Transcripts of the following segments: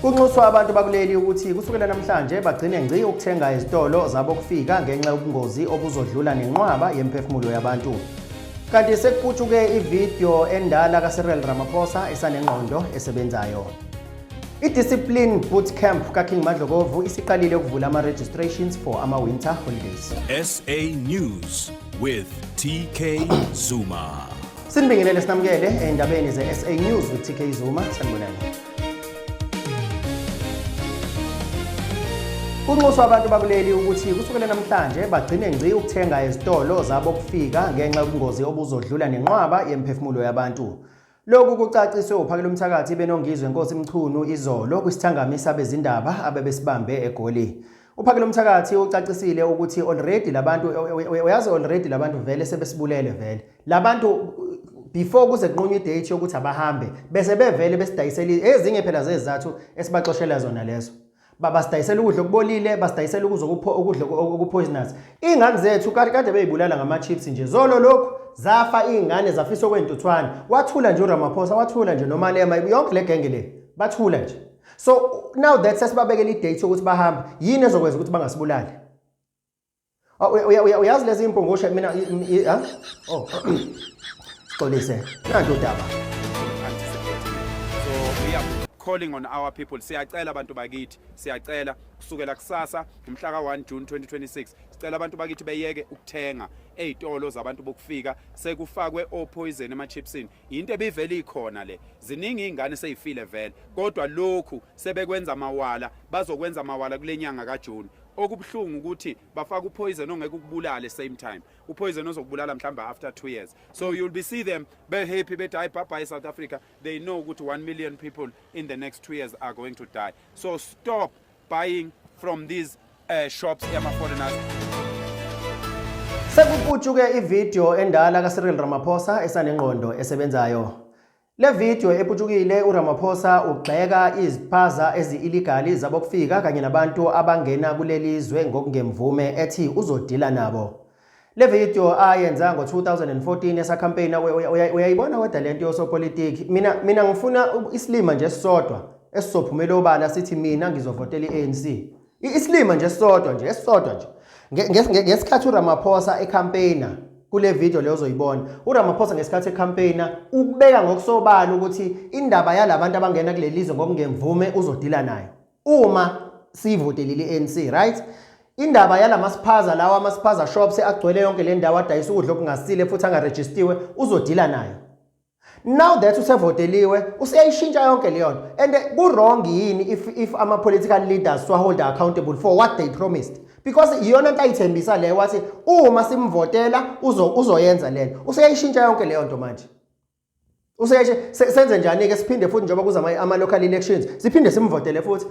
Kunxuswa abantu bakuleli ukuthi kusukela namhlanje bagcine ngci ukuthenga ezitolo zabokufika ngenxa yobungozi obuzodlula nenqwaba yemphefumulo yabantu. Kanti sekuputshuke ivideo endala kaCyril Ramaphosa esanengqondo esebenzayo. I-Discipline Bootcamp kaKing Madlokovu isiqalile ukuvula ama-registrations for ama-winter holidays. SA News with TK Zuma. Sinibingelele sinamukele endabeni ze-SA News with TK Zuma. Sanibonani. Kunxuswa abantu bakuleli ukuthi kusukela namhlanje bagcine ngci ukuthenga ezitolo zabo kufika ngenxa yobungozi obuzodlula nenqwaba yemphefumulo yabantu. Lokhu kucaciswe uphakela umthakathi benongizwe Nkosi Mchunu izolo kwisithangami sabezindaba abebesibambe eGoli. Uphakela umthakathi ucacisile ukuthi already labantu uyazi already labantu vele sebesibulele vele. labantu before kuze kunqunywe idate yokuthi abahambe bese bevele besidayisela ezinye phela zezizathu esibaxoshela zona lezo babasidayisela ukudla okubolile basidayisela ukudla ukudla okupoisonous ingane zethu kade kade beyibulala ngama-chips nje zolo lokhu zafa iy'ngane zafisa okwentuthwane wathula nje uramaphosa wathula nje nomalema yonke le genge le bathula nje so now that sesibabekela idate yokuthi bahambe yini ezokwenza ukuthi bangasibulali Oh, uyazi lezi impungushe mina ah? oh xolise nanto udaba calling on our people siyacela abantu bakithi siyacela kusukela kusasa umhla ka-1 june 2026 sicela abantu bakithi beyeke ukuthenga ey'tolo zabantu bokufika sekufakwe opoyizeni emachipsini yinto ebivele ikhona le ziningi iy'ngane seyifile vele kodwa lokhu sebekwenza amawala bazokwenza amawala kule nyanga kajuni okubuhlungu ukuthi bafaka upoison ongeke ukubulale same time upoison ozokubulala mhlawumbe after 2 years so you'll be see them be happy bethi hayi bhabha eSouth Africa they know ukuthi 1 million people in the next 2 years are going to die so stop buying from these uh, shops yama foreigners Sekuputshuke ivideo endala kaCyril Ramaphosa esanengqondo esebenzayo Le video eputshukile uRamaphosa ugxeka iziphaza ezi-illegal zabokufika kanye nabantu abangena kuleli zwe ngokungemvume ethi uzodila nabo. Le video ayenza ngo-2014 esakhampeyina uyayibona weda le nto yosopolitiki mina mina ngifuna isilima nje esisodwa esizophumela obala sithi mina ngizovotela i-anc Isilima nje sodwa nje esodwa nje. Ngesikhathi uRamaphosa ecampaigner kule video leyo ozoyibona uRamaphosa ngesikhathi ecampaigner ubeka ngokusobala ukuthi indaba yalabantu abangena kulelizwe ngokungemvume uzodila nayo uma siyivotelile iANC right indaba yalamasiphaza lawa amasiphaza shops agcwele yonke le ndawo adayisa ukudla okungasile futhi angarejistiwe uzodila nayo now that usevoteliwe useyayishintsha yonke leyo nto and ku-wrong yini if, if ama-political leaders siwaholde accountable for what they promised because iyona nto ayithembisa leyo wathi uma simvotela uzoyenza uzo lena useyayishintsha yonke leyo nto manje useyashe senze njani-ke siphinde futhi njengoba kuza ama-local elections siphinde simvotele futhi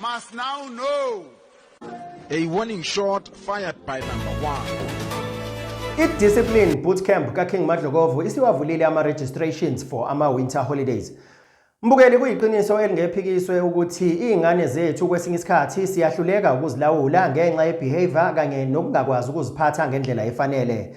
must now know. A warning shot fired by number one. I-discipline bootcamp kaking madlokovu isiwavulile ama-registrations for ama-winter holidays mbukeli kuyiqiniso elingephikiswe ukuthi iy'ngane zethu kwesinye isikhathi siyahluleka ukuzilawula ngenxa yebehavior kanye nokungakwazi ukuziphatha ngendlela efanele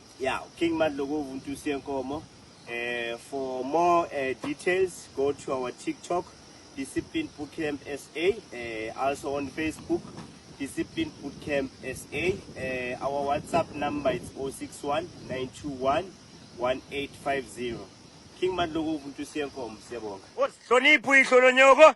Yeah, King Madlokovu Ntusi Yenkomo. Uh, for more uh, details, go to our TikTok, Discipline Bootcamp SA, uh, also on Facebook, Discipline Bootcamp SA. Uh, our WhatsApp number is 061 921 1850. King Madlokovu Ntusi Yenkomo, siyabonga. Hlonipho ihlononyoko.